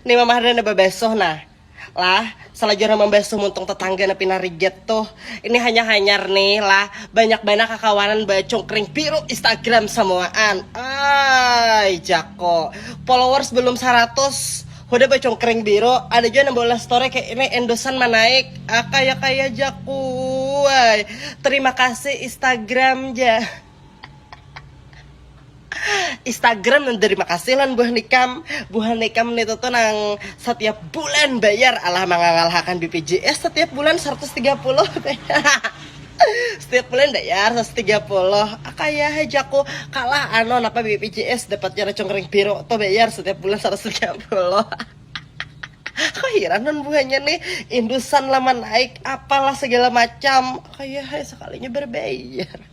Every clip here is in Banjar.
Nih Mama Harda nda babesuh nah. Lah, salajurnya membesuh muntung tetangga na pina rigat tuh. Ini hanya hanyar nih lah, banyak banar kakawanan bacungkring biru Instagram samuaan. Ay, jako. Followers belum saratus, hudah bacungkring biru, ada jua nang baulah story kayak ini endosan manaik. Ah, kaya-kaya jako. Ay, terima kasih Instagram ja. Instagram nang terima kasih lan buah nikam buah nikam itu tuh nang setiap bulan bayar alah mangangalhakan BPJS setiap bulan 130 setiap bulan bayar 130 kaya hajaku kalah ano napa BPJS dapatnya racung kering biru tuh bayar setiap bulan 130 kahiran non buahnya nih indusan lama naik apalah segala macam kaya sekalinya berbayar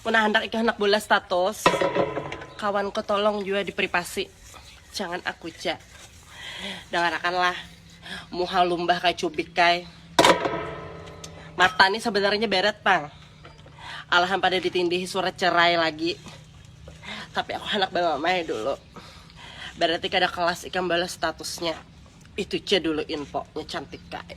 Mun handak ikah handak bola status kawanku tolong jua dipripasi jangan aku ja dangarakanlah muha lumbah kaya cubik kay mata ni sebenarnya beret pang alahan pada ditindihi surat cerai lagi tapi aku handak bamamai dulu berarti kada kelas ikam balas statusnya itu ja dulu infonya cantik kay.